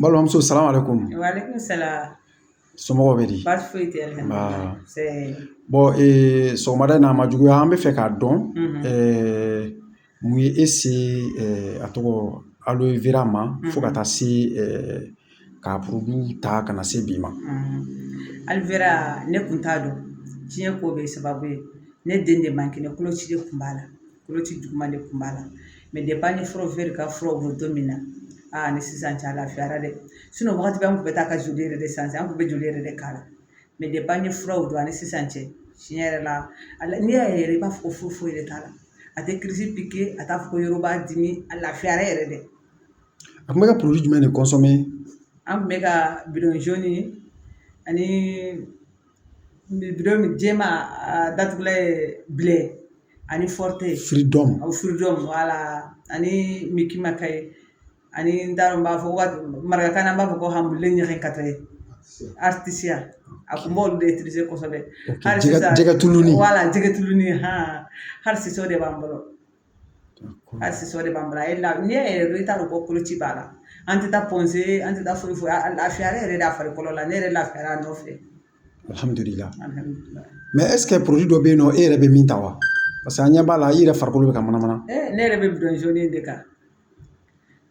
balimamuso salamu alaikum somɔgɔw bɛ di sɔgɔmada na a ma juguya an b'a fɛ k'a dɔn mun ye e se a tɔgɔ aloe vera ma fo ka taa se k'a produit ta ka na se bi ma aloe vera ne tun t'a dɔn diɲɛ ko bɛɛ sababu ye ne den de man kɛnɛ koloci de tun b'a la koloci juguman de kun b'a la mais depuis an ye Forever ka furaw bɔ don min na ani sisan cɛ a lafiyara dɛ wagati bɛɛ an kun bɛ taa ka joli yɛrɛ de san an kun bɛ joli yɛrɛ de k'a la mais depuis an ye furaw dɔn ani sisan cɛ tiɲɛ yɛrɛ la a n'i y'a ye yɛrɛ i b'a fɔ ko foyi foyi de t'a la a tɛ crise piquer a t'a fɔ ko yɔrɔ b'a dimi a lafiyara yɛrɛ dɛ a kun bɛ ka produit jumɛn de consommer an kun bɛ ka bidon jaune ani Bidenw jɛman a datugulan ye bilen ani firidɔn o furudenw wala ani maka ye ani n t'a dɔn n b'a fɔ maraka n b'a fɔ ko hami ɲaga ka ye atisa a tun b'olu de kosɛbɛ jɛgɛ tulu wala jɛgɛ tulu hali de b'an bolo A sisan o de b'an bolo a ye la n'i y'a ye yɛrɛ i t'a dɔn ko koloci b'a la an tɛ taa Point G an tɛ taa foyi foyi a lafiyara yɛrɛ de a farikolo la ne yɛrɛ lafiyara a nɔfɛ alhamdulillah mais est-ce que produit dɔ bɛ yen nɔ e yɛrɛ bɛ min ta wa parce que an ɲɛ b'a la i yɛrɛ farikolo bɛ ka manamana ne yɛrɛ bɛ bidon jaune de kan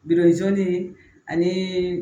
bidon jaune ani